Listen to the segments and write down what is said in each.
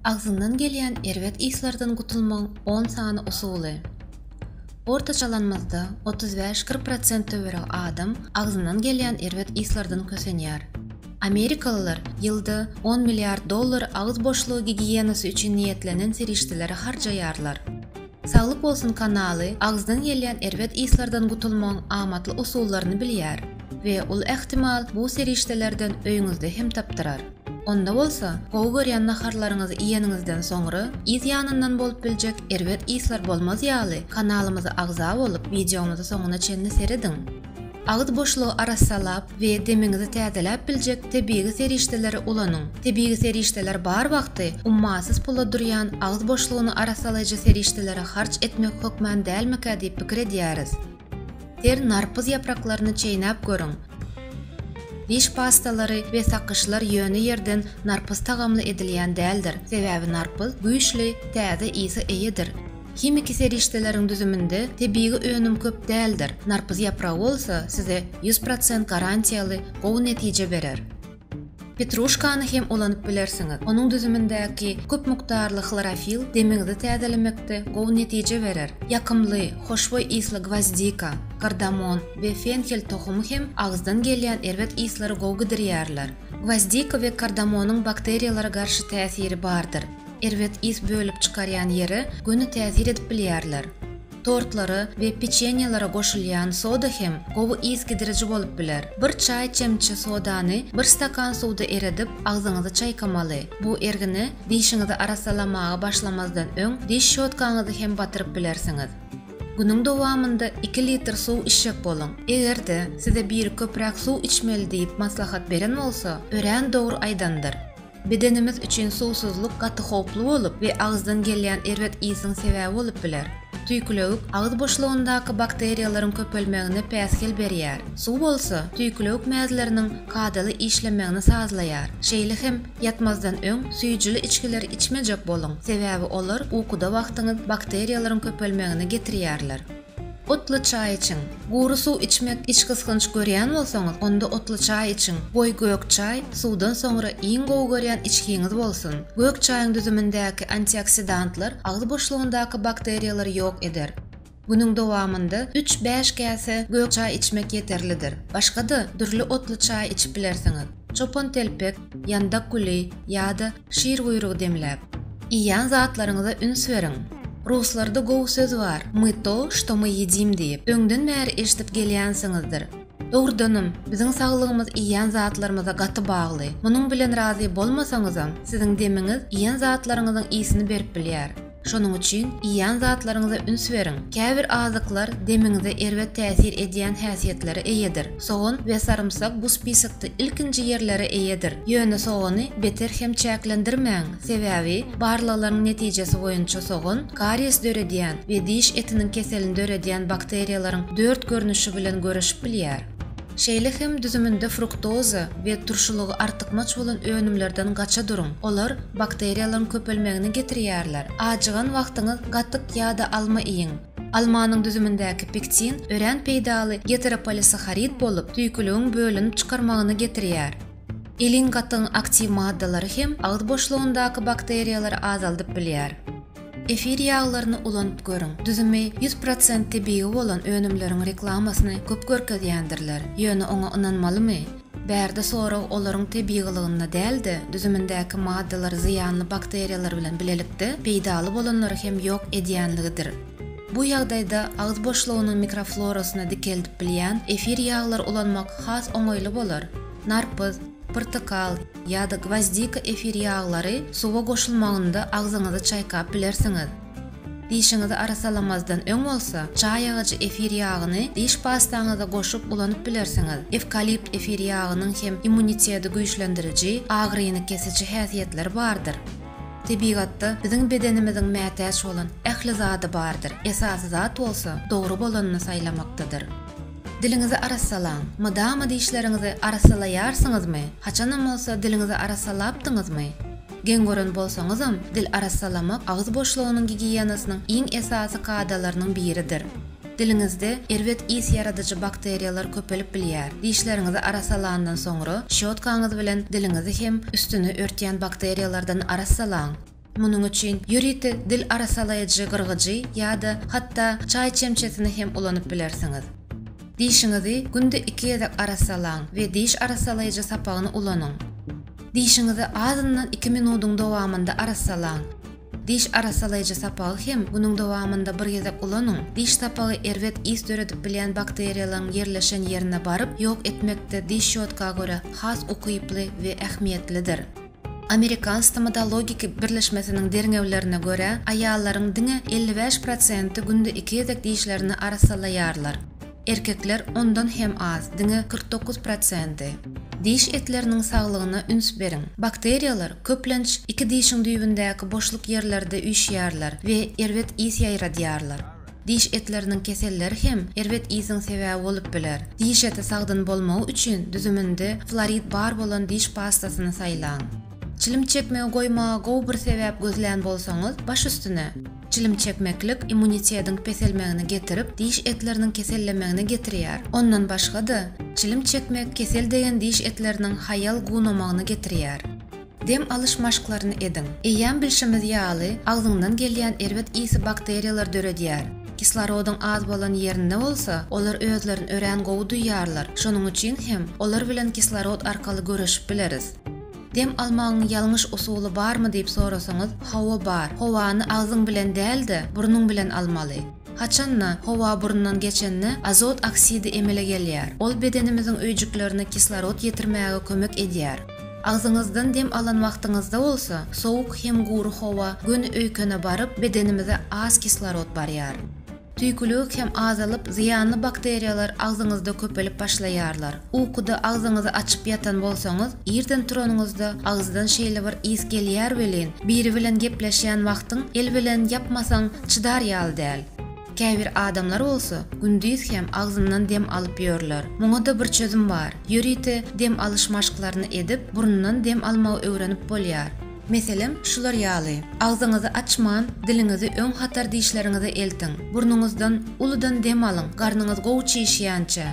Agzyndan gelýän erbet yslardan gutulmagyň on sany usuly. Ortaçalanymyzda otuz bäş, kyrk prosent töweregi adam agzyndan gelýän erbet yslardan kösenýär. Amerikalylar ýylda on milliard dollar agyz boşlugy gigiýenasy üçin niýetlenen serişdelere harjaýarlar. Saglyk bolsun kanaly agzdan gelýän erbet yslardan gutulmagyň amatly usullaryny bilýär we uly ähtimal bu serişdelerden öýüňizde hem tapdyrar. Onda bolsa, gowy görýän naharlaryňyzy iýeniňizden soňra, yz ýanyndan bolup biljek erbet yslar bolmaz ýaly, kanalymyza agza bolup, wideomyzy soňuna çenli serediň! Agyz boşlugy arassalap we demiňizi täzeläp biljek tebigy serişdeleri ulanyň! Tebigy serişdeler bar wagty ummasyz pula durýan agyz boşlugyny arassalaýjy serişdelere harç etmek hökman dälmikä diýip pikir edýäris. Ter narpyz ýapraklaryny çeýnäp görüň. Diş pastalary we sakyşlar ýöne ýerden narpyz tagamly edilýän däldir, sebäbi narpyz güýçli, täze ysy eýedir. Himiki serişdeleriň düzüminde tebigy önüm köp däldir, narpyz ýapragy bolsa size ýüz prosent garantiýaly gowy netije berer. Petruşkany hem ulanyp bilersiňiz. Onuň düzümindäki köp mukdarly hlorofil demiňizi täzelemekde gowy netije berer. Ýakymly, hoşboý ysly gwozdika, kardamon we fenhel tohumy hem agyzdan gelýän erbet yslary gowy gidirýärler. Gwozdika we kardamonyň bakteriýalara garşy täsiri bardyr. Erbet ys bölüp çykarýan ýere göni täsir edip bilýärler. Tortlara we peçenýelere goşulýan soda hem gowy ys gidiriji bolup biler. Bir çaý çemçe sodany bir stakan suwda eredip, agzyňyzy çaýkamaly. Bu ergine dişiňizi arassalamaga başlamazdan öň diş şotkaňyzy hem batyryp bilersiňiz. Günüň dowamynda iki litr suw içjek boluň. Eger-de size biri köpräk suw içmeli diýip maslahat beren bolsa, örän dogry aýdandyr. Bedenimiz üçin suwsuzlyk gaty howply bolup we agyzdan gelýän erbet ýsyň sebäbi bolup biler. Tüýkülewük agyz boşlugyndaky bakteriýalaryň köpelmegine päsgel berýär. Suw bolsa, tüýkülewük mäzleriniň kadaly işlemegini sazlaýar. Şeýle hem ýatmazdan öň süýjüli içgileri içmejek boluň, sebäbi olar ukuda wagtyňyz bakteriýalaryň köpelmegine getirýärler. Otly çaý içiň. Gury suw içmek içgysgynç görýän bolsaňyz, onda otly çaý içiň. Goý gök çaý suwdan soňra iň gowy görýän içgiňiz bolsun. Gök çaýyň düzümindäki antioksidantlar agyz boşlugyndaky bakteriýalary ýok eder. Günüň dowamynda üç-bäş käse gök çaý içmek ýeterlidir. Başga-da dürli otly çaý içip bilersiňiz. Çopantelpek, ýandak güli ýa-da Şir guýrugy demläp. Iýýän zatlaryňyza üns beriň. Ruslarda gowy söz bar, my to, što my ýedim diýip, öňden bäri eşidip gelýänsiňizdir. Dogrudanam, biziň saglygymyz iýýän zatlarymyza gaty bagly. Munuň bilen razy bolmasaňyzam, siziň demiňiz iýen zatlaryňyzyň ysini berip bilýär. Şonuň üçin iýýän zatlaryňyza üns beriň. Käbir azyklar demiňize erbet täsir edýän häsiýetlere eýedir. Sogan we sarymsak bu spisokda ilkinji ýerlere eýedir. Ýöne sogany beter hem çäklendirmäň, sebäbi barlaglaryň netijesi boýunça sogan kariýes döredýän we diş etiniň keselini döredýän bakteriýalaryň dört görnüşi bilen göreşip bilýär. Şeýle hem düzüminde fruktoza we turşulygy artykmaç bolan önümlerden gaça duruň, olar bakteriýalaryň köpelmegine getirýärler. Ajygan wagtyňyz gatyk ýa-da alma iýiň. Almanyň düzümindäki pektin örän peýdaly geteropolisaharid bolup, süýküligiň bölünip çykarmagyna getirýär. Elin gatygyň aktiw maddalary hem agyz boşlugyndaky bakteriýalary azaldyp bilýär. Efir ýaglaryny ulanyp görüň. Düzümi ýüz prosent tebigy bolan önümleriň reklamasyny köp görkezýändirler. Ýöne oňa ynanmalymy? Bärde sorag olaryň tebigylygynda däl-de, düzümindäki maddalar zyýanly bakteriýalar bilen bilelikde peýdaly bolanlary hem ýok edýänligidir. Bu ýagdaýda agyz boşlugynyň mikroflorasyny dikeldip bilýän efir ýaglary ulanmak has oňaýly bolar. Narpyz, pyrtykal, ýa-da gwozdika efir ýaglary suwa goşulmagynda agzyňyzy çaýkap bilersiňiz. Dişiňizi arassalamazdan öň bolsa, çaý agajy efir ýagyny diş pastaňyza goşup ulanyp bilersiňiz. Ewkalipt efir ýagynyň hem immuniteti güýçlendiriji, agyryny kesiji häsiýetleri bardyr. Tebigatda biziň bedenimiziň mätäç bolan ähli zady bardyr, esasy zat bolsa dogry bolanyny saýlamakdadyr. Diliňizi arassalaň. Mydama dişleriňizi arassalaýarsyňyzmy? Haçanam bolsa diliňizi arassalapdyňyzmy? Geň gören bolsaňyzam, dil arassalamak agyz boşlugynyň gigiýenasynyň iň esasy kadalarynyň biridir. Diliňizde erbet ys ýaradyjy bakteriýalar köpelip bilýär. Dişleriňizi arassalandan soňra, şýotkaňyz bilen diliňizi hem üstüni örtýän bakteriýalardan arassalaň. Munuň üçin ýörite dil arasalaýjy gyrgyjy ýa-da hatda çaý çemçesini hem ulanyp bilersiňiz. Dişiňizi günde iki gezek arassalaň we diş arassalaýjy sapagyny ulanyň. Dişiňizi azyndan iki minudyň dowamynda arassalaň. Diş arassalaýjy sapagy hem günüň dowamynda bir gezek ulanyň, diş sapagy erbet ys döredip bilýän bakteriýalaryň ýerleşen ýerine baryp ýok etmekde diş şýotka görä has ukyply we ähmiýetlidir. Amerikan stomatologik birleşmesiniň derňewlerine görä, aýallaryň diňe elli bäş prosenti günde iki gezek dişlerini arassalaýarlar. Erkekler ondan hem az, diňe kyrk dokuz prosenti. Diş etleriniň saglygyna üns beriň. Bakteriýalar, köplenç, iki dişiň düýbündäki boşluk ýerlerde üýşýärler we erbet ys ýaýradýarlar. Diş etleriniň keselleri hem erbet ýsyň sebäbi bolup biler. Diş eti sagdyn bolmagy üçin düzüminde florid bar bolan diş pastasyny saýlaň. Çilim çekmegi goýmaga gowy bir sebäp gözlän bolsaňyz, baş üstüne. Çilim çekmeklik immunitetiň peselmegine getirip, diş etleriniň kesellemegine getirýär. Ondan başga-da, çilim çekmek kesel degen diş etleriniň haýal gunamagyna getirýär. Dem alyş maşklaryny ediň. Eýýäm bilşimiz ýaly, agzyňdan gelýän erbet ysy bakteriýalar döredýär. Kislorodyň az bolan ýerinde bolsa, olar özlerini örän gowy duýýarlar, şonuň üçin hem olar bilen kislorod arkaly göreşip bileris. Dem almagyň ýalňyş usuly barmy diýip sorasaňyz, hawa bar. Howany agzyň bilen däl-de, burnuň bilen almaly. Haçanda, howa burundan geçende, azot oksidi emele gelýär. Ol bedenimiziň öýjüklerine kislorod ýetirmäge kömek edýär. Agzyňyzdan dem alan wagtyňyzda bolsa, sowuk hem gury howa göni öýkene baryp, bedenimize az kislorod barýar. Tüýkülik hem azalyp, zyýanly bakteriýalar agzyňyzda köpelip başlaýarlar. Ukuda agzyňyzy açyp ýatan bolsaňyz, irden turanyňyzda agyzdan şeýle bir ys gelýär welin, biri bilen gepleşýän wagtyň el bilen ýapmasaň çydar ýaly däl. Käbir adamlar bolsa gündiz hem agzyndan dem alyp ýörler. Muňa-da bir çözüm bar. Ýörite dem alyş maşklaryny edip, burundan dem almagy öwrenip bolýar. Meselem, şular ýaly, Agzyňyzy açman, diliňizi öň hatar dişleriňize eltiň. Burnuňyzdan uludan dem alyň, garnyňyz gowy çişýänçä.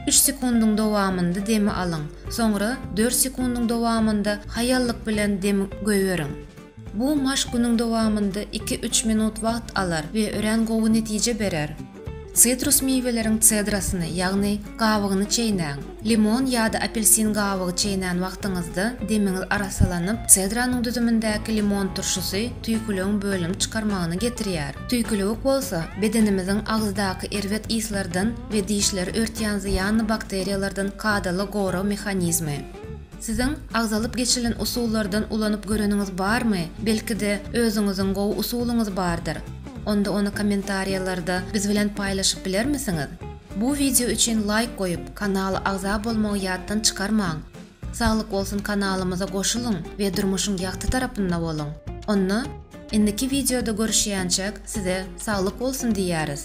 Üç sekundyň dowamynda demi alyň, soňra dört sekundyň dowamynda haýallyk bilen dem goýberiň. Bu maşk günüň dowamynda iki-üç minut wagt alar we örän gowy netije berer. Sitrus miweleriň sedrasyny, ýagny gabygyny çeýnäň. Limon ýa-da apelsin gabygy çeýnän wagtyňyzda demiňiz arassalanyp, sedranyň düzümindäki limon turşusy tüýküligiň bölünip çykarmagyna getirýär. Tüýküligik bolsa, bedenimiziň agyzdaky erbet yslardan we dişleri örtýän zyýanly bakteriýalardan kadaly gorag mehanizmi. Siziň agzalyp geçilen usullardan ulanyp göreniňiz barmy? Belki-de, özüňiziň gowy usulyňyz bardyr? Onda ony kommentariýalarda biz bilen paýlaşyp bilermisiňiz? Bu wideo üçin laýk goýup, kanala agza bolmagy ýatdan çykarmaň! Saglyk bolsun kanalymyza goşulyň we durmuşyň ýagty tarapynda boluň! Onda, indiki wideoda görüşýänçäk size saglyk bolsun diýýäris!